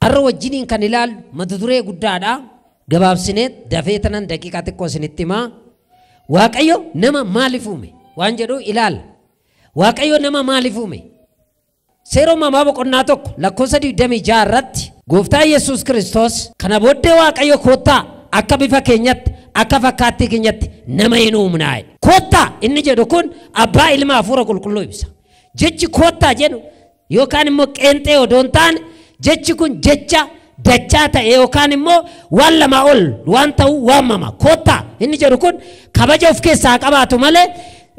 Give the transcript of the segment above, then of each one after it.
Arra wajjiniin kan ilaallu mata duree guddaadha. Gabaabsineet dafee tanan daqiiqaa xiqqoo isinitti himaa. Waaqayyo nama maaliif uume? Waan jedhu ilaalla. Waaqayyo nama maaliif uume? Seera uumamaa boqonnaa tokko lakkoofsa 26 irratti gooftaa Yesuus Kiristoos kana booddee Waaqayyo koottaa akka bifa keenyatti akka fakkaattii keenyatti nama hin uumnaa. Koottaa inni jedhu kun abbaa ilma hafuura qulqulluu ibsa. Jechi koottaa jedhu Yookaan immoo qeenxee odoo hin taane jechi kun jecha dachaa ta'e yookaan immoo waan lamaa ol waan ta'u waamama. Koottaa inni jedhu kun kabaja of keessaa qabaatu malee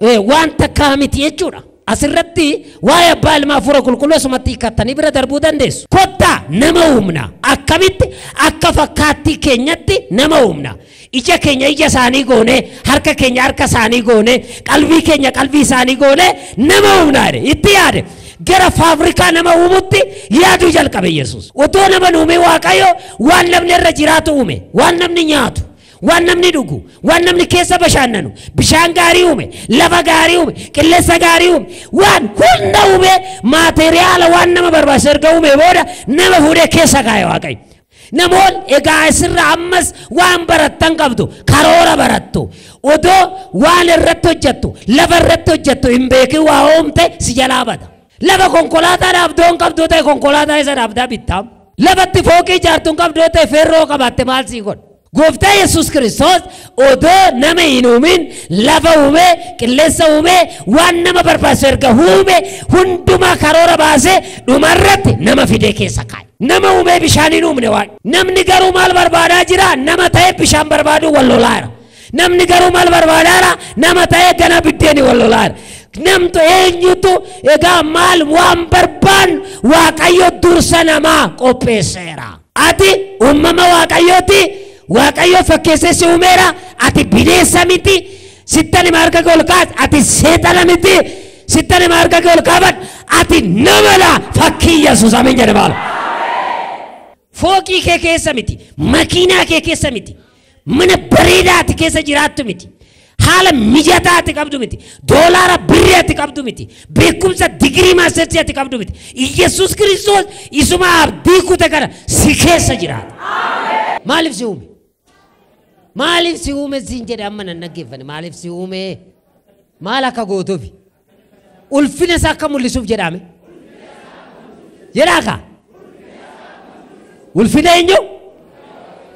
eh, waan takkaa miti jechuudha. Asirratti waa'ee abbaa ilmaa hafuura qulqulluu asumatti hiikattanii bira darbuu dandeessu. Koottaa nama uumna. Akkamitti akka fakkaattii keenyatti nama uumna. Ija keenya ija isaanii goonee, harka keenya harka isaanii goonee, qalbii keenya qalbii isaanii goonee nama uumna jedhe. Itti yaade. Gara faabirikaa nama uumutti yaaduu jalqabe Yesuus. Otoo nama hin uumin Waaqayyo waan namni irra jiraatu uume, waan namni nyaatu, waan namni dhugu, waan namni keessa bashaannanu, bishaan gaarii uume, lafa gaarii uume, qilleensa gaarii uume, waan hunda uume maateriyaala waan nama barbaachisu erga uumee booda nama fuudhee keessa kaa'e Waaqayyo. Namoonni egaa isirraa ammas waan barattan qabdu. Karoora barattu. Odoo waan irratti hojjettu, lafa irratti hojjettu hin beekin waa uumte si jalaa bada. Lafa konkolaataa dhaabdu yoo hin qabdu yoo ta'e konkolaataa isa dhaabdaa bittaam. Lafa itti fooqii ijaartu hin qabdu yoo ta'e feerroo qabaatte maal sii godha? Gooftaa Yesuus Kiristoos odoo nama hin uumin lafa uume, qilleensa uume, waan nama barbaachisu erga uume hundumaa karoora baasee dhumarratti nama fidee keessa kaa'e. Nama uumee bishaan hin uumne waan. Namni garuu maal barbaadaa jira? Nama ta'ee bishaan barbaaduu wal lolaa jira. Namni garuu maal barbaadaa jira? Nama ta'ee gana biddeeni wal lolaa jira. Namtu eenyutu egaa maal waan barbaannu Waaqayyo dursa namaa qopheesseera. Ati uumama Waaqayyooti, Waaqayyo fakkeessee si uumeera, ati bineensa miti, sittan hima harka kee ol kaas, ati seexana miti, sittan hima harka kee ol kaaban, ati namadha, fakkii Yesuus ameen jedhe maal. Fooqii kee keessa miti, makiinaa kee keessa miti, Mana bareedaa ati keessa jiraattu miti. Haala mijataa ati qabdu miti. Doolaara birrii ati qabdu miti. Beekumsa digirii maastersii ati qabdu miti. Iyyasuus Kiristoos isuma abdii kute kana si keessa jiraata. Maaliif si uume? Maaliif si uume siin jedhe amma nan dhaggeeffane. Maaliif si uume? Maal akka gootuufi? Ulfina isaa akka mul'isuuf jedhaame. Jedhaa kaa? Ulfina eenyu?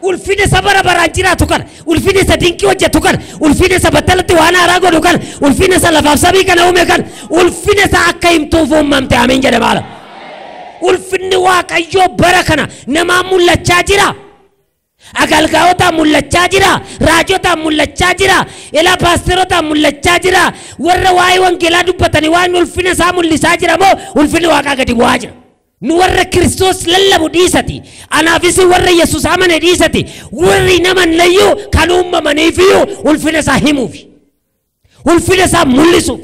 Ulfina isa bara baraan jiraatu kana, ulfina isa dinqii hojjetu kana, ulfina isa battalatti waan haaraa godhu kana, ulfina isa lafaaf samii kana uume kana, ulfina isa akka himtuuf uumamte ameen jedhama ala. Ulfinni Waaqayyoo bara kana namaan mul'achaa jira. Agalgaotaan mullachaa jira, raajotaan mullachaa jira, ilaa paasterotaan mullachaa jira, warra waa'ee wangeelaa dubbatani waa'een ulfina isaa mullisaa jira moo ulfinni waaqaa gadi bu'aa jira? Nu warra Kiristoos lallabu dhiisati, anaaf isin warra Yesuus amane dhiisati, warri naman layyuu kan uumamaniifiyyuu ulfina isaa himuufi. Ulfina isaa mul'isuuf.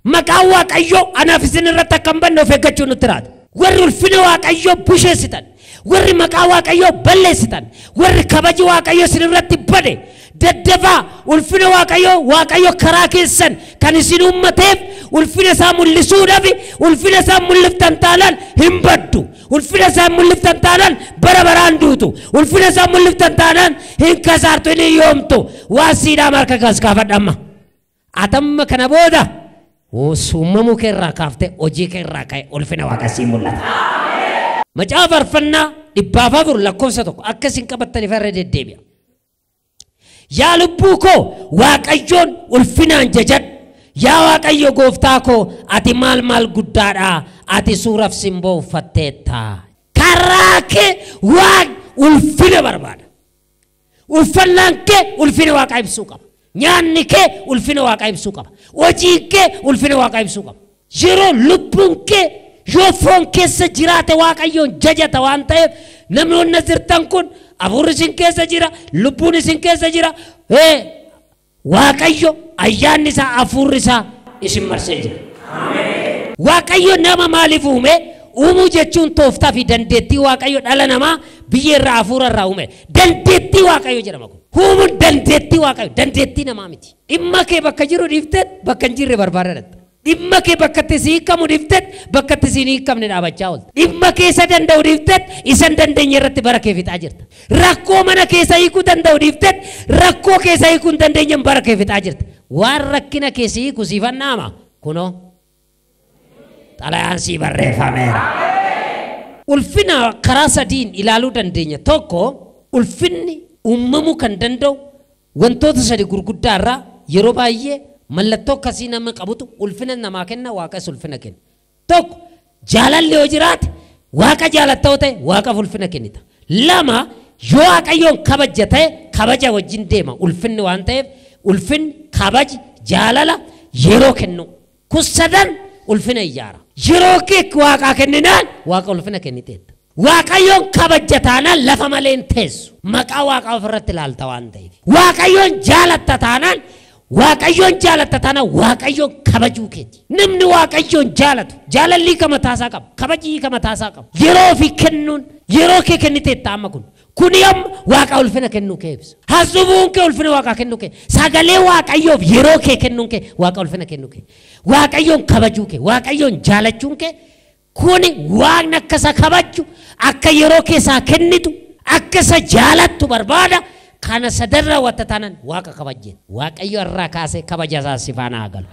Maqaan Waaqayyoo anaaf isin irratti akka hin banne of eeggachuu nutti raata. Warri ulfina Waaqayyoo busheessitan, warri maqaa Waaqayyoo balleessitan, warri kabaji Waaqayyoo isin irratti bade, daddafaa ulfina Waaqayyoo Waaqayyo karaa keessan kan isin uummateef ulfina isaa mul'isuudhaaf ulfina isaa mul'iftan taanaan hin baddu. Ulfina isaan mul'iftan taanaan bara baraan duutu. Ulfina isaan mul'iftan taanaan hin kasaartu hin hiyyoomtu. Waan siidhaa marka kas kaafadha amma. Atamma kana booda uumamuu kee irraa kaaftee hojii kee irraa ka'e ulfina waaqa sii mul'ata. Macaafa farfannaa dhibbaaf afur lakkoofsa tokko akka isin qabattaniif irra deddeebi'a. Yaa lubbuu koo Waaqayyoon ulfinaan jajadhu. Yaa Waaqayyo gooftaa koo ati maal maal guddaadha ati suuraf simboo uffatteetta. Karraa kee waan ulfina barbaada. Uffannaan kee ulfina waaqaa ibsuu qaba. Nyaanni kee ulfina waaqaa ibsuu qaba. Hojiin kee ulfina waaqaa ibsuu qaba. Yeroo lubbuun kee yoo foon keessa jiraate Waaqayyoon jajata waan ta'eef namoonni as jirtan kun hafuurri isin keessa jira, lubbuun isin keessa jira. Ee, Waaqayyo ayyaanni isaa hafuurri isaa isin marsee jira. Waaqayyo nama maaliif uume? Uumuu jechuun tooftaa fi dandeettii Waaqayyo dhala namaa biyyee irraa hafuura irraa uume. Dandeettii Waaqayyo jedhama kun. Uumuun dandeettii Waaqayyo, dandeettii namaa miti. Dhimma kee bakka jiru dhiifteet bakka hin jirre barbaadaa dhaqxa. Dhimma kee bakka itti si hiikamu dhiifteet bakka itti si hin hiikamne dhaabachaa oolta. Dhimma kee isa danda'u dhiifteet isa hin dandeenye irratti bara kee fixaa jirta. Rakkoo mana kee isa hiikuu danda'u dhiifteet rakkoo kee isa hiikuu hin dandeenyeen bara kee fixaa jirta. Waan rakkina kee si hiiku siifan dhaama, kunoo. Xalayaan sii barreeffameera. Ulfina karaa sadiin ilaaluu dandeenya. Tokko ulfinni uumamuu kan danda'u wantoota sadi gurguddaa irraa yeroo baay'ee mallattoo akkasii nama qabutu ulfina namaa kenna waaqes ulfina kenna. Tokko jaalalli yoo jiraate Waaqa jaalatta yoo ta'e Waaqaf ulfina kennita. Lama yoo Waaqayyoon kabajja ta'e kabaja wajjin deema ulfinni waan ta'eef ulfinni kabaji jaalala yeroo kennu. Kun sadan ulfina ijaara. Yeroo kee Waaqaa kenninaan Waaqa ulfina kenniteetta. Waaqayyoon kabajja taanaan lafa malee hin teessu. Maqaa Waaqaa ofirratti ilaalta waan ta'eef. Waaqayyoon jaalatta taanaan Waaqayyoon jaalatta taana Waaqayyoon kabajuu keeti. Namni Waaqayyoon jaalatu jaalallii ka mataasaa qaba. Kabajii ka mataasaa qaba. Yeroo ofii kennuun yeroo kee kenniteetta amma kun. Kuni amma Waaqa ulfina kennuu kee ibsa. Haasofni kee ulfina Waaqaa kennuu kee. Sagalee Waaqayyoof yeroo kee kennuun kee Waaqa ulfina kennuu kee. Waaqayyoon kabajuu kee. Waaqayyoon jaalachuun kee Kuni Waaqni akka isa kabajju, akka yeroo kee isaa kennitu, akka isa jaalattu barbaada. Kana sadan raawwatta taanaan Waaqa kabajjeetta. Waaqayyo har'aa kaasee kabaja isaa si faana haa galu.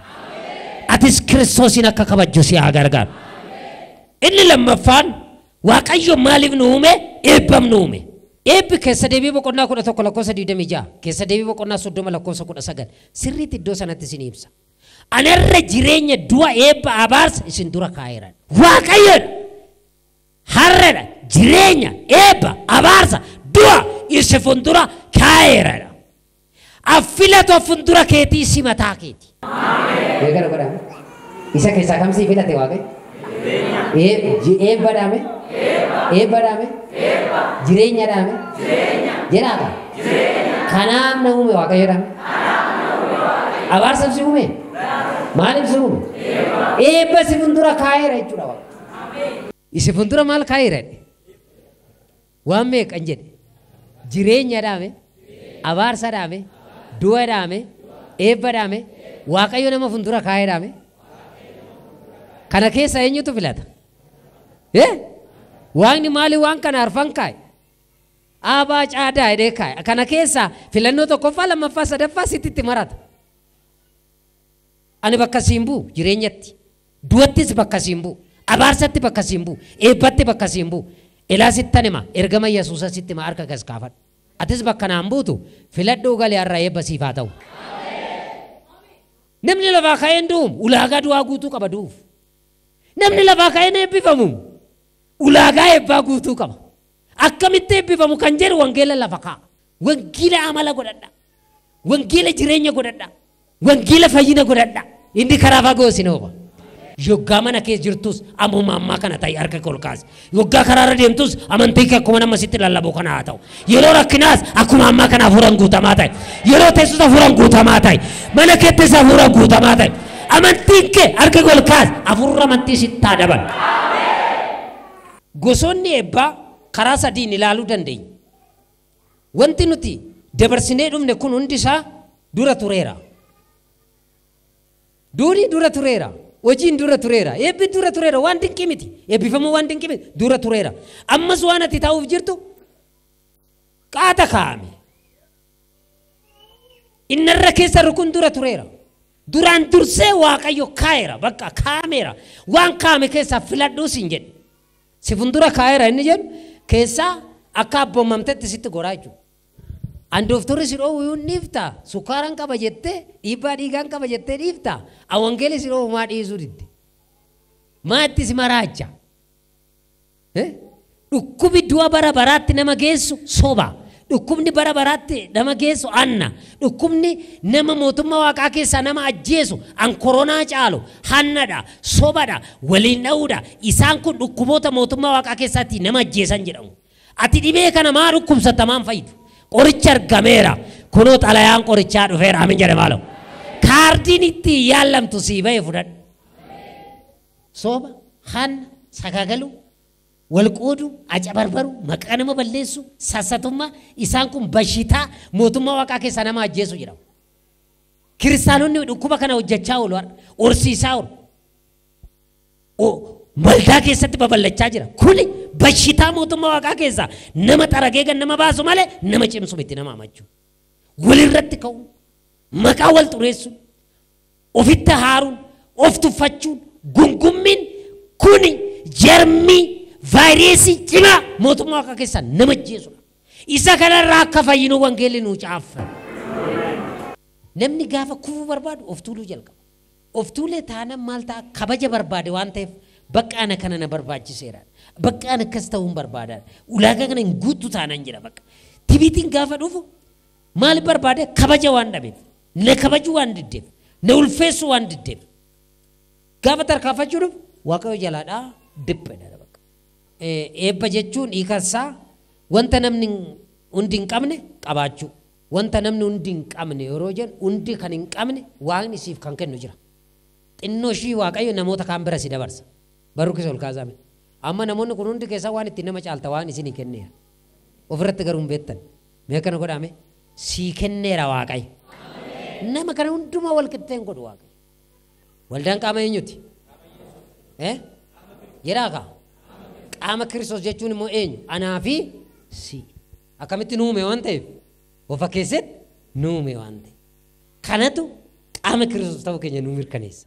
Atis Kiristoosiin akka kabajju si haa gargaaru. Inni lammaffaan Waaqayyo maaliif nu uume? Eebbaf nu uume. Eebbi keessa deebii boqonnaa 11 lakkoofsa 26, keessa deebii boqonnaa 30 lakkoofsa 19 sirriitti iddoo sanatti isin ibsa. Ana irra jireenya, du'a, eebba, abaarsa isin dura kaa'eera. Waaqayyo dha. Har'a dha. Jireenya, eebba, abaarsa, du'a isi fundura kaa'eera dha. Affilatu affundura keetii isi mataa keeti. Deegara godhaa. Isa keessaa kam sii filate Waaqayyo? Ee, ji- eebba dhaame? Eebba dhaame? Jireenya dhaame? Jedhaata? Kanaaf na uume Waaqayyo dhaame? Abaarsa si uume? Maaliif si uume? Eebba si fuuldura kaa'eera jechuudha Waaqayyo. Isi fuuldura maal kaa'eera? Waan meeqan jedhe? Jireenya dhaame, abaarsa dhaame, du'a dhaame, eebba dhaame, Waaqayyo nama fuuldura kaa'ee dhaame. Kana keessa eenyutu filata? Eh? Waaqni maali waan kana arfan kaa'e? Aabaa caadaa jedhee kaa'e. Kana keessa filannoo tokkoffaa, lammaffaa, sadaffaa sitti itti marata. Ani bakka si hin bu'u, jireenyatti. Du'attis bakka si hin bu'u. Abaarsatti bakka si hin bu'u. Eebbatti bakka si hin bu'u. Ilaa sittan hima, ergama Yesuusa sitti hima harka kas kaafadhu. Atis bakka naa hin buutu, filadhuu gali har'a eebba siif haa ta'u. Namni lafaa ka'ee hin du'uum, ulaagaa du'aa guutuu qaba du'uuf. Namni lafaa ka'ee hin eebbifamuum, ulaagaa eebbaa guutuu qaba. Akkamitti eebbifamu kan jedhu wangeela lafa kaa'a. Wangeela amala godhadha. Wangeela jireenya godhadha. Wangeela fayyina godhadha. Inni karaa fagoo isin oofa. Yoggaa mana keessa jirtus ammuma ammaa kana ta'i harka kee ol kaasi. Yoggaa karaarra deemtus amantii kee akkuma nama sitti lallabu kana haa ta'u. Yeroo rakkinaas akkuma ammaa kana hafuuraan guutamaa ta'i. Yeroo teessus hafuuraan guutamaa ta'i. Mana keettis hafuuraan guutamaa ta'i. Amantiin kee harka kee ol kaasi. Hafuurri amantii sitti haa dabalu. Gosoonni eebbaa karaa sadiin ilaaluu dandeenya. Wanti nuti dabarsinee dhufne kun hundi isaa dura tureera. Duuni dura tureera. Hojiin dura tureera. Eebbi dura tureera. Waan dinqii miti. Eebbifamuu waan dinqii miti. Dura tureera. Ammas waan ati ta'uuf jirtu qaata kaa'ame. Inni irra keessa rukun dura tureera. Duraan dursee Waaqayyo kaa'eera bakka kaa'ameera. Waan kaa'ame keessaa filadhuu siin jedhe. Si fuuldura kaa'eera inni jedhu keessaa akka abboomamtetti sitti goraa jechuudha. An dooftorri si dhoowwu hin dhiifta. Sukkaaran qaba jettee dhiibbaa dhiigaan qaba jettee dhiifta. An wangeelii si dhoowwu maa dhiisuu didde. Maa itti si maraacha. Eh? Dhukkubi du'a bara baraatti nama geessu soba. Dhukkubni bara baraatti nama geessu anna. Dhukkubni nama mootummaa waaqaa keessaa nama ajjeesu an koronaa caalu hannadha, sobadha, waliin dha'uudha. Isaan kun dhukkuboota mootummaa waaqaa keessaatti nama ajjeesan jedhamu. Ati dhibee kana maa dhukkubsatta maan fayyidu? Qorichi argameera. Kunoo xalayaan qorichaa dhufeera. Amin jedhe maaloo. Kaardiin itti yaallamtu sii ba'e fudhadhu. Soba, haanna, sagaagaluu, wal qooduu, acabarbaruu, maqaa nama balleessuu, sassatummaa, isaan kun bashitaa mootummaa waaqaa keessaa nama ajjeesu jedhama. Kiristaanonni dhukkuba kana hojjechaa oolu har'a. Horsiisaa oolu. O- Waldaa keessatti babal'achaa jira. Kuni bashitaa mootummaa waaqaa keessaa nama xaragee kan nama baasu malee nama cimsu miti nama amachuu. Walirratti ka'u. Maqaa wal xureessu. Ofitti haaruun, of tuffachuun, gungummiin kuni jarmii, vaayireesii cimaa mootummaa waaqa keessaa nama ajjeesudha. Isa kanarraa akka fayyinu wangeelli nuu caaffame. Namni gaafa kufuu barbaadu of tuuluu jalqaba. Of tuulee taanan maal ta'a? Kabaja barbaade waan ta'eef bakka ana kana na barbaachiseera. Bakka ana akkas ta'uun barbaadaadha. Ulaagaa kana hin guuttu taanan jedha bakka. Tibiitiin gaafa dhufu maal barbaade? Kabaja waan dhabeef. Na kabajuu waan diddeef, na ulfeessuu waan diddeef. Gaafa tarkaanfachuu dhufu Waaqayyo jalaadhaa diphedha. Eebba jechuun hiikan isaa wanta namni hundi hin qabne qabaachuu. Wanta namni hundi hin qabne yeroo jennu hundi kan hin qabne waaqni siif kan kennu jira. Xinnoo ishii Waaqayyo namoota kaan bira si dabarsa. Barrukis ol kaasaa mee. Amma namoonni kun hundi keessaa waan ittiin nama caalta waaqni isinii kenneera. Ofirratti garuu hin beektan. Mee akkana godhaa mee sii kenneera waaqayyo. Nama kana hundumaa wal qixxeen godhu waaqayyo. Waldaan qaama eenyuti? Eh? Jedhaa kaa? Qaama Kiristoos jechuun immoo eenyu? Anaa fi si. Akkamitti nu uume waan ta'eef? Of fakkeesseet nu uume waan ta'eef. Kanatu qaama Kiristoos ta'uu keenya nu mirkaneessa.